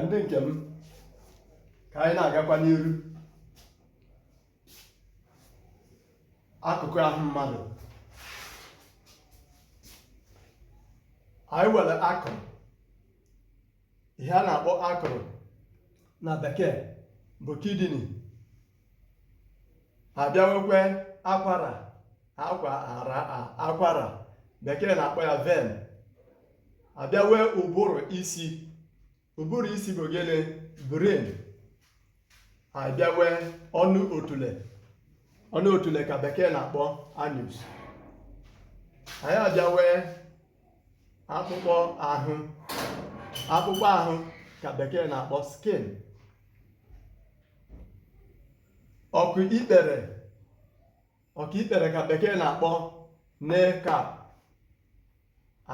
ndị nke m ka anyị na-agakwa n'iru akụkụ ahụ mmadụ anyị nwere akụrụ ihe a na-akpọ akụrụ na bekee bụ kidney abịawekwe akwara akwara akwara bekee na-akpọ ya vein abịawe ụbụrụ isi ụbụrụ isi bụ gịnị brain abịawe ọnụ otule ọnụ otule ka bekee na-akpọ anus anyị abịawe akpụkpọ ahụ akpụkpọ ahụ ka bekee na-akpọ skin ọkụ ikpere ọkụ ikpere ka bekee na-akpọ kneecap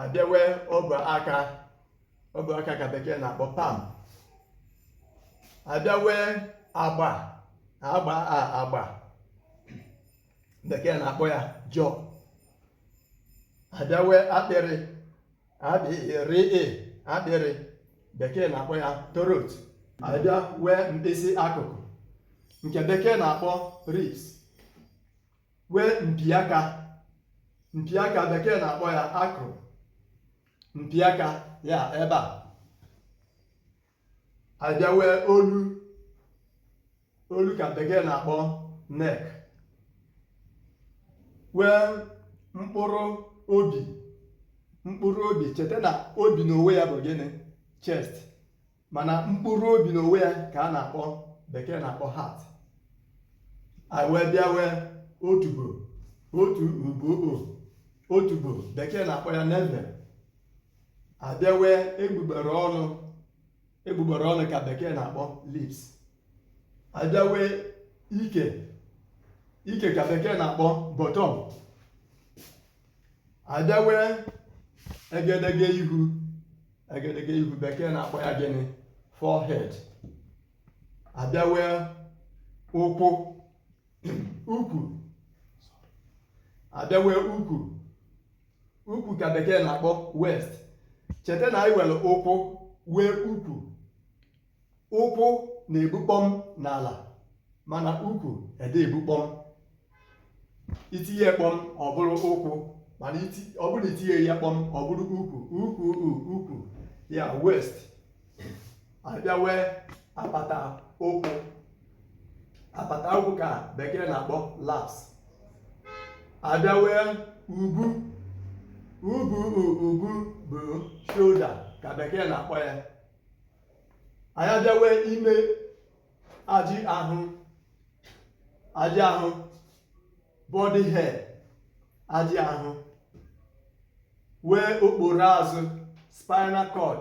abịawe ọbụ aka ọbụ aka ka bekee na-akpọ palm abịawe agba agba agba bekee na-akpọ ya jaw abịawe akpịrị akpịrị akpịrị bekee na-akpọ ya throat abịa wee mkpịsị akụkụ nke bekee na-akpọ ribs wee mpi aka mpi aka bekee na-akpọ ya ankle mpi aka ya ebe a abịawe olu olu ka bekee na-akpọ neck wee mkpụrụ obi mkpụrụ obi cheta na obi n'onwe ya bụ gịnị chest mana mkpụrụ obi n'onwe ya ka a na-akpọ bekee na-akpọ heart anyị wee bịa wee otubo otubo otubo bekee na-akpọ ya navel abịawe egbugbere ọnụ egbugbere ọnụ ka bekee na-akpọ lips abịawe ike ike ka bekee na-akpọ bottom abịawe egedege ihu egedege ihu bekee na-akpọ ya gịnị forehead abịawe ụkwụ ukwu abịawe ukwu ukwu ka bekee na-akpọ waist cheta na anyị nwere ụkwụ wee ukwu ụkwụ na-ebu kpọm n'ala mana ukwu ede ebu kpọm i tinye kpọm ọ bụrụ ụkwụ mana ọ bụrụ i tinye ya kpọm ọ bụrụ ukwu ukwu ukwu ya waist abịa nwee apata ụkwụ apata ụkwụ ka bekee na-akpọ laps abịa nwee ubu ubu ubu bụ shoulder ka bekee na-akpọ ya anyị abịa nwee ime ajị ahụ ajị ahụ body hair ajị ahụ nwee okporo azụ spinal cord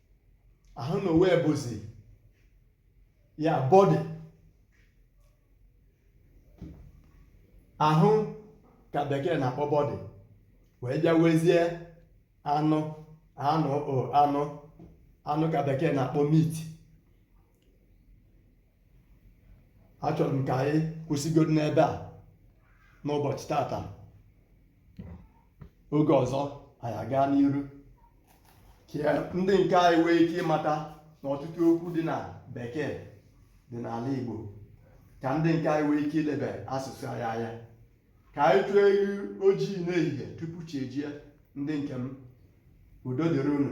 ahụ na onwe bụzi ya body ahụ ka bekee na-akpọ body wee bịa nwezie anụ anụ anụ anụ ka bekee na-akpọ meat achọrọ m ka anyị kwụsịgodo n'ebe a n'ụbọchị tata oge ọzọ anyị agaa n'iru ka ndị nke anyị nwee ike ịmata na ọtụtụ okwu dị na bekee dị n'ala Igbo ka ndị nke anyị nwee ike ilebe asụsụ anyị anya ka anyị tụọ ewu ojii n'ehihie tupu chi ejie ndị nke m udo dịrị unu